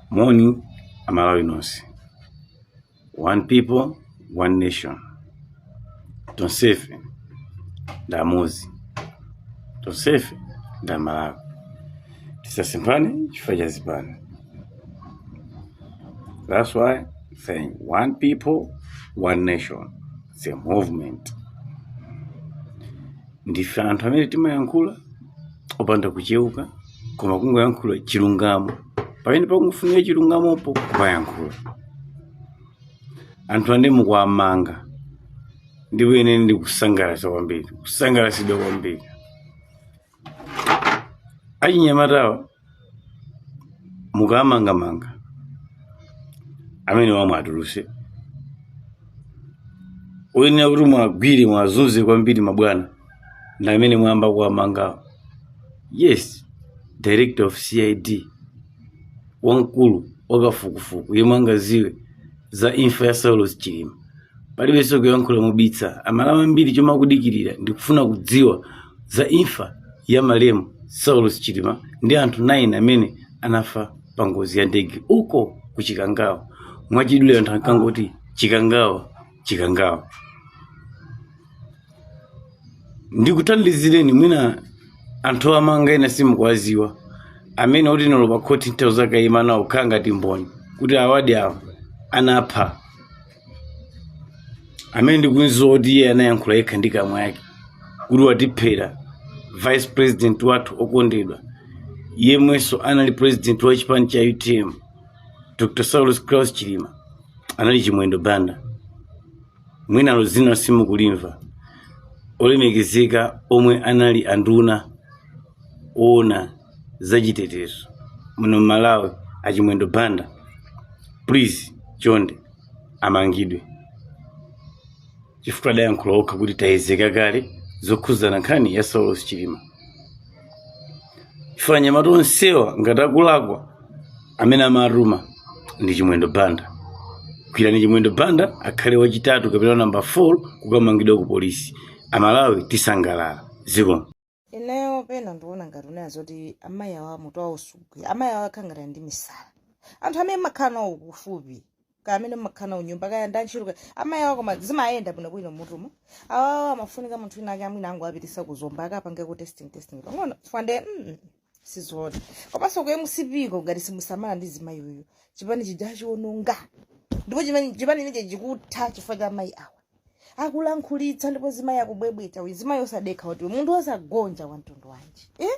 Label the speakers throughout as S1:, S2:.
S1: Moni, Amalawi nonse. One people, one nation. Tonsefe ndi amodzi, tonsefe ndi Amalawi. Tisasemphane chifukwa cha zipani. That's why saying one people, one nation. It's a movement. ndife anthu amene timayankhula opanda kucheuka koma kungoyankhula chilungamo pamene pakufunika chilungamopo kumayankhula anthu andale mukuwamanga ndipo ine ndikusangalatsa kwambiri kusangalatsidwa kwambiri achinyamatawa mukamangamanga amene wamwatuluse oyenera kuti mwagwire mwazunze kwambiri mabwana ndi amene mwayamba kuwamangawo yes director of cid wamkulu wakafukufuku yemwe angadziwe za imfa ya saulos chilima palibenso kuyankhula mobisa amalawi ambiri chomwe akudikirira ndikufuna kudziwa za imfa ya malemu saulos chilima ndi anthu 9 amene anafa pa ngozi ya ndege uko ku chikangawa mwachidule anthu ankangoti chikangawa chikangawa ndikuthandizireni mwina anthu amanga ena simukuwadziwa amene oti olo pa khoti nditha kuzakaima nawo kukhala ngati mboni kuti awadi awa anapha amene ndikumdziwa kuti iye anayankhula yekha ndi kamwa yake kuti watiphera vice president wathu okondedwa yemwenso anali president wa chipani cha utm dr saulos klaus chilima anali chimwendo banda mwina ilo dzina simukulimva olemekezeka omwe anali anduna owona zachitetezo muno mmalawi achimwendo banda please chonde amangidwe chifukwa adayankhula okha kuti tayiziwa kale zokhuzana nkhani ya saulos chilima chifukwa anyamata onsewa ngati akulakwa amene amatuma ndi chimwendo banda gwirani chimwendo banda akhale wachitatu kapena namba 4 kukamangidwa ku polisi amalawi tisangalala zikomo ineyo
S2: pena ndikuona ngati kunena zoti amayi awa mutu awo sugwira amayi awa akhala ngati ali ndi misala anthu amene mumakhala nawo kufupi kaya amene mumakhala nawo nyumba kaya ndi antchito kaya amayi awo koma zimayenda bwino bwino mmutumo awawa amafunika munthu wina ake mwina angowapitisa ku zomba akapange ku testing testing pang'ono chifukwa nde mm, sizoona komanso ku mcp ko ngati simusamala ndi zimayi uyu chipani chija chiwonongeka ndipo chimene- chipani chimenechi chikutha chifukwa cha amayi awa akulankhulisa ndipo zimayi akubwebweta uyu zimayi osadekha kuti munthu osagonja wa mtundu wanji eh?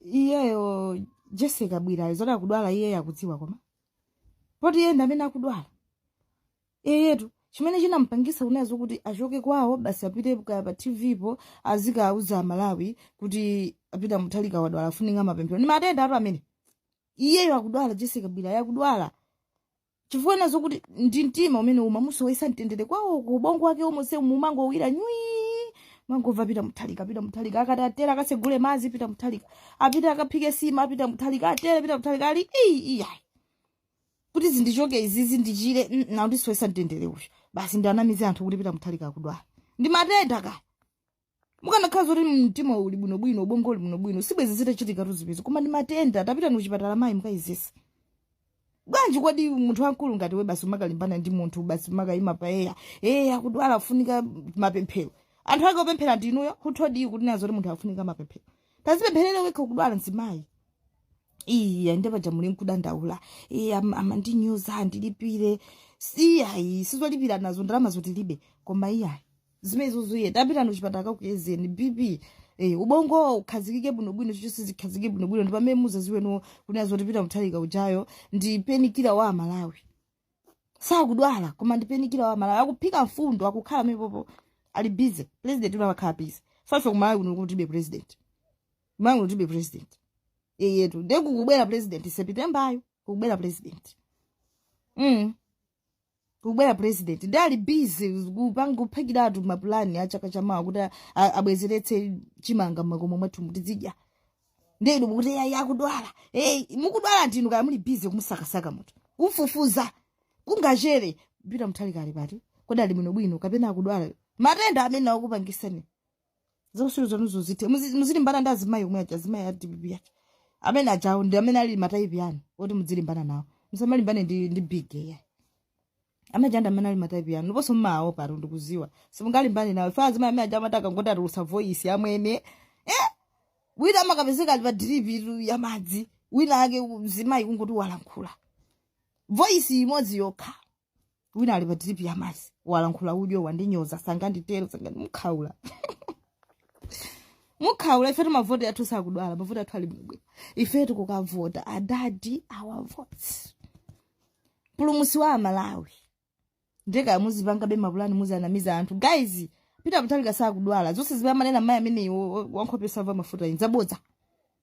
S2: iyeyo jese kabwilayo zoti akudwala iyeyo sakudziwa koma poti iye ndi amene akudwala iyeyetu chimene chinamupangisa kunazo kuti achoke kwawo basi apite kaya pa tv po azikauza amalawi kuti a pita muthalika wadwala afunika mapemphero ndi matendatu amene iyeyo akudwala jese kabwilayo akudwala chifukwa nazo kuti ndi mtima umene umamusowesa mtendere kwawo ku ubongo wake wonse umangowira nywi umangova pita muthalika pita muthalika akatere akasegule mazi pita muthalika apita akaphike sima pita muthalika akatere pita muthalika ali iyi iya kuti zindichoke izizi ndichire mm, wandisowesa mtendere uyu basi ndiwanamize anthu kuti pita muthalika akudwala ndi matenda kaya ukanakhala zoti mtima uli bwinobwino ubongo uli bwinobwino sibwezi zitachitika tu zimenezi koma ndi matenda tapitani kuchipatala mayi mukayezese bwanji kodi munthu wamkulu ngati iwe basi umakalimbana ndi munthu basi umakayima pa eya eya akudwala afunika mapemphero anthu ake opemphera ndi inuyo kuthodi kunena zoti munthu afunika mapemphero tazipempherere wekha ukudwala mzimayi iya nde paja muli nkudandaula iya amandinyoza andilipire iyayi sizolipira nazo za ndalama zo tilibe koma iyayi zimenezo zisiye tapitani kuchipatala akakuyezeni bp Eh, ubongo ukhazikike bwinobwino chilichonse chikhazikike bwinobwino ndi pamene muzaziweno kunena zoti pita muthalika ujayo ndi dalaivala wa amalawi sakudwala koma ndi dalaivala wa amalawi akuphika mfundo akukhala mepopo ali busy president uyo amakhala busy poti ife kumalawi kuno kutibe president kumalawi kuno kulibe president eyetu nde kukubwera president sepitembayu kukubwera president mm. kukubwera president nde ali busy kupanga kuphikiratu mapulani a chaka chamawa kuti a- a- abwezeretse chimanga mmakomo mwathu muti tizidya nde inu mukuti yayi akudwala hey, mukudwala ndinu kaya muli busy kumusakasaka munthu kufufuza kungochera pita muthalika ali pati kodi ali bwinobwino kapena akudwala matenda amene akupangisani zausiru zanuzo zithe Muzi- muzilimbana ndi azimayi omwe aja azimayi a dpp aja amene ajawo ndi amene ali mataipi yanu oti mudzilimbana nawo musamalimbane ndi ndi big eya amene aja amene ali mataipi yanu ndiponso mmawo pano ndikuziwa simungalimbane nawo chifukwa azimayi amene aja amati akangoti atulusa voice yamwini eh wina amakapezeka ali pa diripi tu ya madzi wina ake mzimayi kungoti walankhula voice imodzi yokha wina ali pa drip ya madzi walankhula udyo wandinyoza sanganditero sangandi mukhaula mukhaula ife mavoti athu sakudwala mavoti athu ali bwino ife tikukavota adadi our votes mpulumutsi wa amalawi nde kaya muzipangabe mapulani muzanamiza anthu guys peter muthalika sakudwala zonse zimene amanena mayi ameneyi wankhope yosamva mafuta ndi zabodza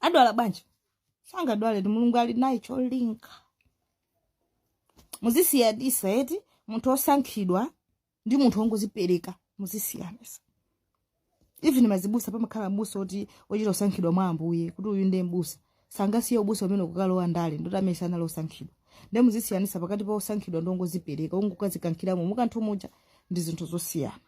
S2: adwala bwanji sangadwale ndi mulungu ali naye cholinga muzisiyanitsa eti munthu osankhidwa ndi munthu wongozipereka muzisiyanitsa even mazibusa pamakhala mbusa oti ochita kusankhidwa mwa ambuye kuti uyu ndiye mbusa sangasiye ubusa amene akukalowa ndale ndoti amene sanali osankhidwa ndiye muzisiyanitsa pakati pa osankhidwa ndi ongozipereka ongokadzikankhiramo mukanthu muja ndi zinthu zosiyana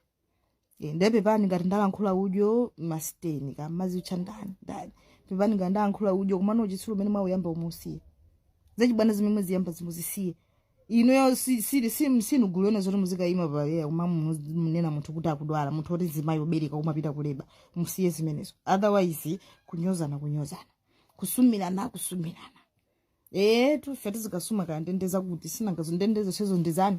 S2: Eh, nde pepani ngati ndalankhula udyo masiteni kaya mumazitcha ndani ndani pepani ngati ndalankhula udyo komano uchitsiru umene mwauyambawu muusiye zachibwana zimene mwaziyambazi muzisiye inuyo si- sili- sim- sinu gulene zoti muzikayima apa eya koma mu- munena munthu kuti akudwala munthu woti mzimayi obereka umapita kuleba musiye zimenezo otherwise kunyozana kunyozana kusumirana kusumirana etu ife tizikasuma kaya ndendeza kuti sinanga zondendezazo ndi zanu